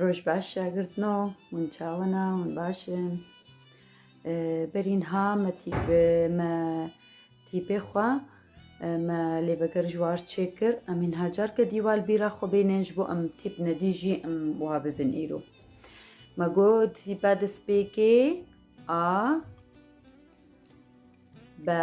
Roj baş şagirtno, hûn çawina, hûn baş in. Berîn ha me tîpê me tîpê xwe me lê veger ji war çêkir em hîn ha carke dîwal bîra xwe bênên ji bo em tîp nedî jî em wa bibin îro. Me got tîpa despêkê a be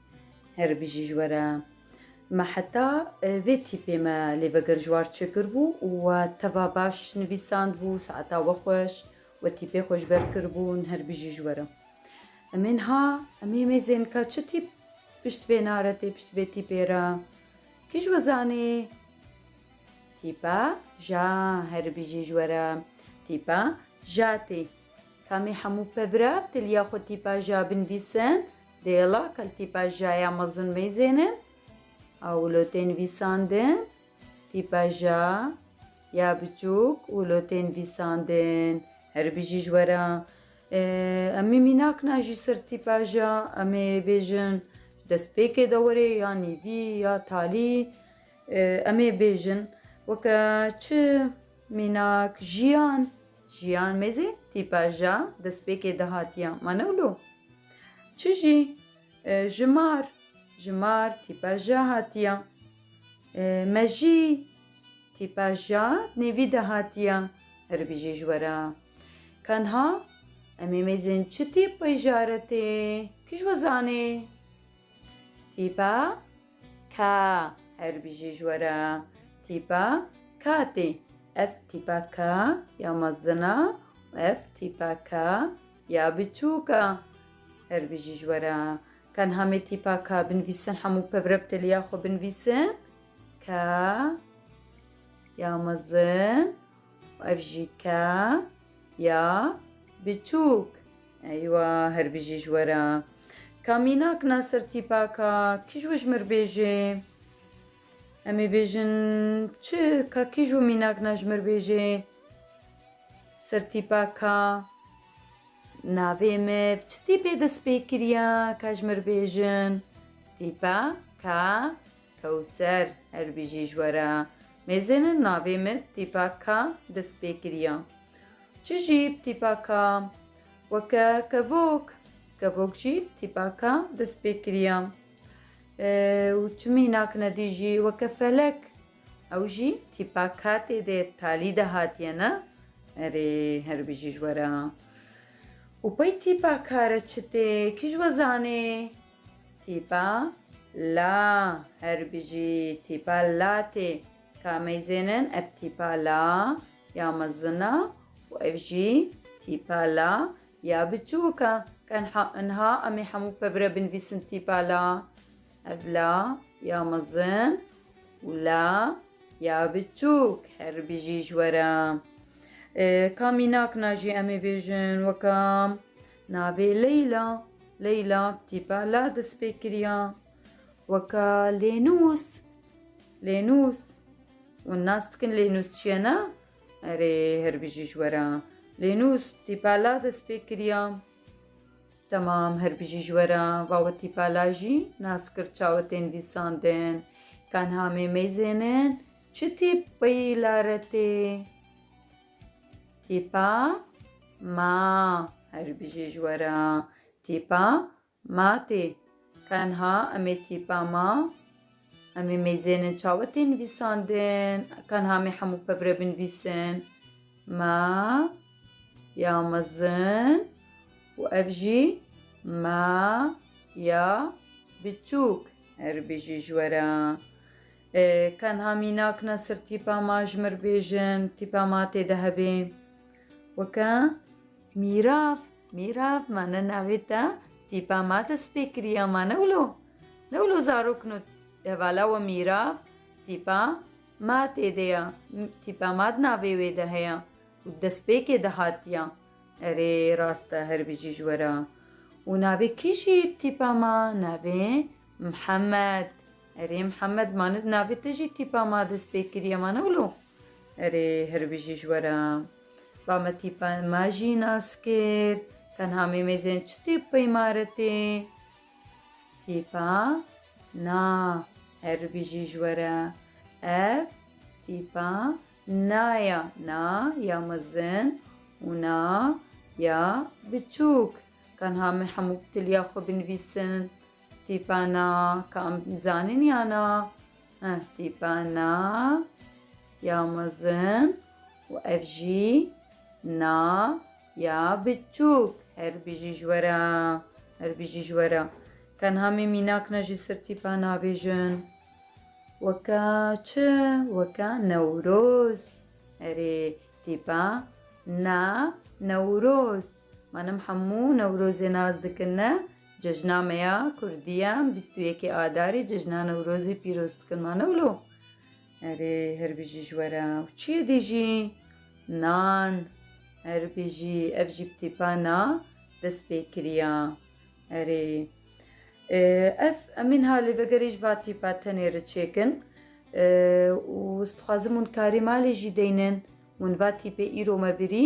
Her bijî ji we re. Me heta vê tîpê me lê veger ji war çêkirbû û we teva baş nivîsandbû, saeta we xweş, we tîpê xwe ji ber kiribûn, her bijî ji we re. Em ê niha em ê mêzên ka çi tîp pişt vê naretê, pişt vê tîpê re. Kî ji we zanê? Tîpa ja, her bijî ji we re. Tîpa ja tê. Kamê hemû pevra bi tiliya xwe tîpa ja binivîsin, Dêla kal tîpa ja ya mezin mêzên in a wulotê nivîsandin, tîpa ja ya biçûk wulotê nivîsandin. Herî bijî ji we re. Em ê mînak ne jî ser tîpa ja em ê bêjin ji destpêkê dewerê ya nîvî ya talî em ê bêjin weke çi mînak jiyan. Jiyan mêzê tîpa ja destpêkê dihatiya ma ne wilo. Çi jî? Jimar, jimar tîpa ja hatiya. Mejî, tîpa ja nêvî de hatiya. Herî bijî ji we re. Tenha em ê mêzên çi tîpî ja re tê? Kî ji we zanê? Tîpa. Ka, her bijî ji we re. Tîpa ka tê. Ev tîpa ka ya mezin e û ev tîpa ka ya biçûk e. Her bijî ji we re. Ka niha me tîpa ka binivîsin hemû pir re bi teliya xwe binivîsin. Ka ya mezin û ev jî ka ya biçûk. Eywa her bijî ji we re. Ka mînak na ser tîpaka kîj we ji mir bêjê. Em ê bêjin çi ka kîj we mînak na ji mir bêjê. Ser tîpaka navê me bi çi tîpê dest pê kiriya ka ji mir bêjin. Tîpa ka kewser her bijî ji we re. Mêzêne navê me tîpa ka dest pê kiriya. Çi jî tîpaka weke kevok, kevok jî tîpaka destpêkiriya û çi mînak nedî jî weke felek, ew jî tîpaka tê de talî de hatiye ne? Erê her bijî ji we re. Û pey tîpaka re çi tê, kî ji we zanê? Tîpa la, her bijî tîpa la tê. Ka meyzênin ev tîpa la ya mezin a û ev jî tîpa la ya biçûk a. Ka niha em ê hemû pevre binivîsin tîpa la. Ev la ya mezin û la ya biçûk her bijî ji we re. Ka mînak na jî em ê bêjin weka navê Leyla. Leyla bi tîpa la dest pê kiriya. Weka lênûs, lênûs. Wan nas dikin lênûs çi ye ne? Erê her bijî ji we re. Lênûs tîpala dest pê kiriya. Temam her bijî ji we re. Va we tîpala jî nas kir çawe tên vîsandin. Tenha mê mêzênin çi tîp peyîla re tê? Tîpa ma her bijî ji we re. Tîpa Ma tê. Tenha em ê tîpa ma. Em ê mêzênin çawa tê nivîsandin? Tenha em ê hemû pevre binivîsin. Ma ya mezin û ev jî ma ya biçûk. Erê bêjî ji we re. Tenha mînak ne sir tîpa ma ji mir bêjin. Tîpa ma tê de hebê. Weke mîrav, mîrav ma ne navê te tîpa ma te spê kiriya ma ne wilo. Ne wilo zarok no hevala we mîrav tîpa ma tê de ya. Tîpa ma di navê wê de heye û di destpêkê de hatiya. Erê rast e her bijî ji we re. Û navê kî jî ye bi tîpa ma? Navê Mihemed. Erê Mihemed ma ne di navê te jî tîpa ma destpê kiriya ma ne wilo. Erê hirbijî ji we re. Ba me tîpa ma jî nas kir. Tenha mêmêzên çi tîp peyma re tê? Tîpa na. Hirbijî ji we re. Ev tîpa na ya. Na ya mezin û na ya biçûk. Tenha me hemû bi tiliya xwe binivîsin. Tîpa na ka em zanîn ya na? Nasîbana ya mezin û ev jî na ya biçûk. Her bijî ji we re, her bijî ji we re. Tenha me mînak ne jî sirtîpa nabêjin. Weke çi? Weke Newroz. Erê tîpa na Newroz. Manim hemû Newrozê naz dikin ne cejna me ya Kurdî ye em bîst û yekê Adarî cejna Newrozê pîroz dikin ma ne wilo? Erê her bijî ji were û çiyê dî jî? Nan her bijî ev jî bi tîpana dest pê kiriya erê ev em ên halê vegerê ji va tîpa tenê re çêkin û ez dixwazim hûn karê malê jî deynin hûn va tîpê îro me birî